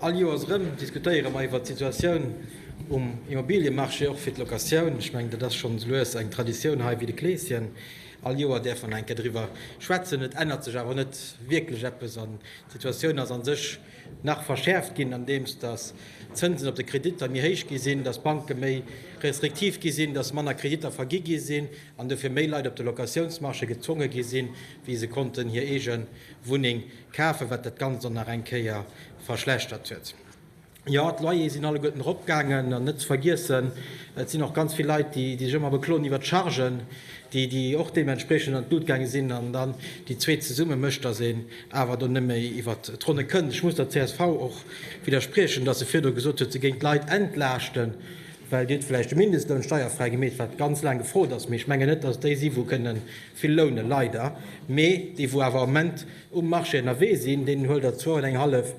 All Joers erëm diskutéiere mer iwwert d'Situatioun um Immobiliemarché, och fir d'Locatioun. Ech mengen, dat ass scho sou lues eng Traditioun hei wéi de Kleeschen. All Joer däerf een eng Kéier driwwer schwätzen. Et ännert sech awer net wierklech eppes an d'Situatioun ass a sech nach verschäerft ginn, andeems datt d'Zënsen op de Kreditter méi héich gi sinn, datt d'Banke méi restriktiv gi sinn, datt manner Kreditter vergi gi sinn an dofir méi Leit op de Locatiounsmarché gezwonge gi sinn, wéi se konnten hir eege Wunneng Kafen, wat dat Ganzt dann nach eng Kéier verschlechtert huet. Jo, d'Loyere sinn alleguerten eropgaangen. An net ze vergiessen, et sinn och ganz vill Leit, déi sech ëmmer bekloen iwwert d'Chargen, déi och deementspreechend an d'Lut gaange sinn. An dann déi zwee zesumme mécht, datt een awer do net méi iwwer d'Ronne kënnt. Ech muss der csv och widderspriechen, datt se virdru gesot huet, se géing d'Leit entlaaschten. Well Dir hutt vläicht de Mindestloun steierfräi gemeet, wat ganz laang gefrot ass, mee ech mengen net, dass et déi si wou kënne vill lounen, leider, mee déi wou awer am Moment um Marché ënnerwee sinn, deenen huelt Der zwou an eng hallef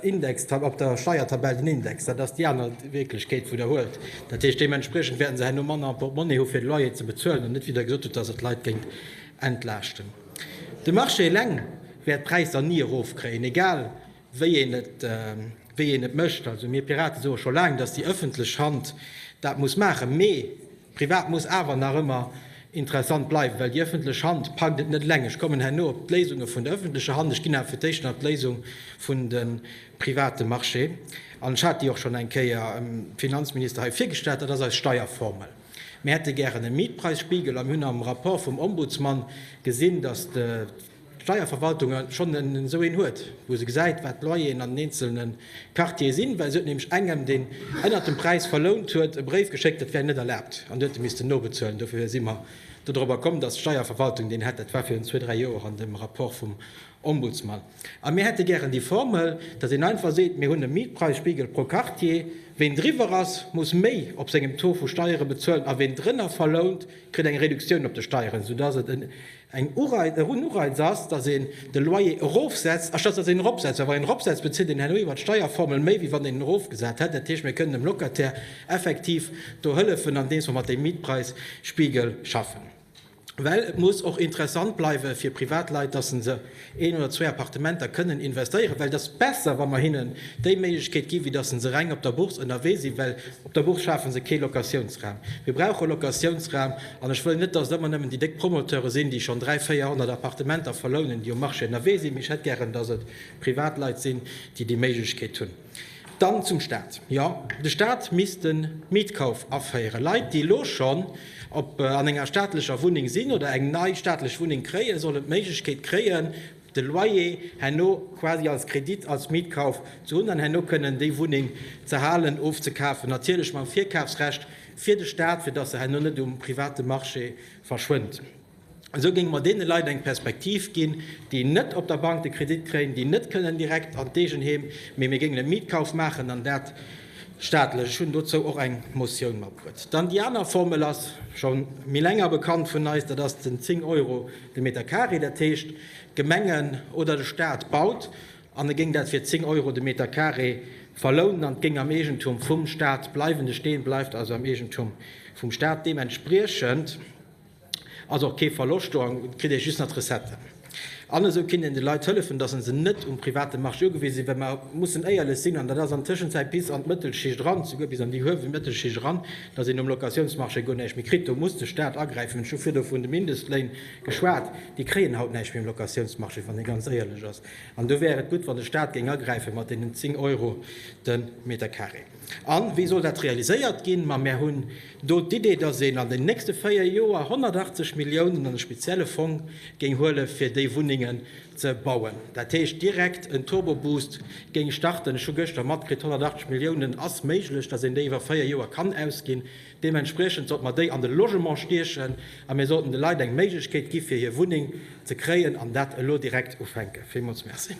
Index op der Steiertabell den Index. Dat ass déi aner Wierklechkeet wou Der huelt. Dat heescht, deementspriechend wäerten se herno manner am Portmonnie hu fir de Loyer ze bezuelen an net wéi Der gesot hutt, dass et d'Leit géint entlaaschten. De Marché eleng wäert d'Präisser ni erofkréien, egal wéi een et mécht. Also mir Piraten soe scho laang, datt déi ëffentlech Hand dat muss maachen, mee privat muss awer nach ëmmer interessant bleiwen, well déi ëffentlech Hand packt et net eleng. Ech kommen herno op d'Léisunge vun der ëffentlecher Hand. Ech ginn awer fir d'éischt nach d'Léisung vun de private Marché an. Ech hat déi och schonn eng Kéier dem Finanzminister hei virgestallt. Dat ass eis Steierformel. Mir hätte gären e Mietpreisspiegel a mir hunn am Rapport vum Ombudsmann gesinn, datt Steierverwaltung schonn esou een huet, wou se gesäit, wat d'Loyeren an den eenzelne Quartiere sinn, well se huet nämlech engem, deen ënnert dem Präis verlount huet, e Bréif geschéckt, dat wär net erlaabt, an dee huet e missten nobezuelen. Dofir si mer dodrober komm, dass d'Steierverwaltung deen hätt. Dat war virun zwee, dräi Joer an dem Rapport vum Ombudsman. A mir hätte gären déi Formel, dass een einfach seet, mir hunn e Mietpreisspiegel pro Quartier, ween driwwer ass, muss méi op sengem Taux vu Steiere bezuelen, a ween drënner verlount, kritt eng Reduktioun op de Steieren, soudass et en Eng Ureiz ass, datt een de Loyer erofsetzt, anstatt datt een en eropsetzt, well wann een en eropsetzt, bezilt een herno iwwer d'Steierformel méi, wéi wann een en erofgesat hätt. Dat heescht, mir kënnen dem Locataire effektiv do hëllefen, andeems mer mat deem Mietpräisspiegel schaffen. Well et muss och interessant bleiwe fir Privatleit, datt se se een oder zwee Appartementer kënnen investéieren, well et ass besser, wa mer hinnen déi Méiglechkeet ginn, wéi datt se reng op der Bourse ënnerwee sinn, well op der Bourse schafe se kee Locatiounsraum. Mir brauche Locatiounsraum an ech wëll net, datt et ëmmer nëmmen déi déck Promoteure sinn, déi schonn 300, 400 Appartementer verlounen, déi um Marché ënnerwee sinn, mee ech hätt gären, datt et Privatleit sinn, déi déi Méiglechkeet hunn. Dann zum Staat. Jo, de Staat misst de Mietkauf aféieren. Leit, déi elo schonn an enger staatlecher Wunneng sinn oder eng nei staatlech Wunneng kréien, sollen d'Méiglechkeet kréien, de Loyer herno quasi als Kredit, als Mietkauf ze hunn an herno kënnen déi Wunneng ze halen, ofzekafen, natierlech mam Virkafsrecht fir de Staat, fir dass se herno net um private Marché verschwënnt. Esou géinge mer deene Leit eng Perspektiv ginn, déi net op der Bank de Kredit kréien, déi net kënnen direkt an d'Eegenheem, mee mir géingen e Mietkauf maachen an dat staatlech. Ech hunn dozou och eng Motioun matbruet. Dann déi aner Formel ass scho méi länger bekannt vun eis, dat ass den 10 Euro de Meter carré. Dat heescht, d'Gemengen oder de Staat baut an e géing dat fir 10 Euro de Meter carré verlounen an et géing am Eegentum vum Staat bleiwen. De Steen bleift also am Eegentum vum Staat. Deementspriechend Ass och kee Verloscht do, et kritt ee just nach d'Recetten. An esou kinnt een de Leit hëllefen, dass se net um private Marché ugewise sinn, well mer mussen éierlech sinn, an dat ass an Tëschenzäit bis an d'Mëttelschicht eran, souguer bis an déi huewel Mëttelschicht eran, dass een um Locatiounsmarché guer näischt méi kritt. Do muss de Stat agräifen. Ech hu virdu vun de Mindestléin geschwat. Déi kréien haut näischt méi um Locatiounsmarché, wann ee ganz éierlech ass. An do wär et gutt, wann de Stat géing agräife mat deenen 10 Euro de Metercarré. A wéi soll dat realiséiert ginn? Ma mer hunn Do d'Idee, dass een an den nächste véier Joer 180 Milliounen an e spezielle Fong géing huele fir déi Wunnengen ze bauen, dat heescht direkt en Turboboost géing starten, ech hu gëschter matkritt, 180 Milliounen ass méiglech, dass een déi iwwer véier Joer kann ausginn, deementspriechend sollte mer déi an de Logement stiechen a mir sollten de Leit eng Méiglechkeet gi fir hir Wunneng ze kréien an dat elo direkt ufänken. Villmools Merci.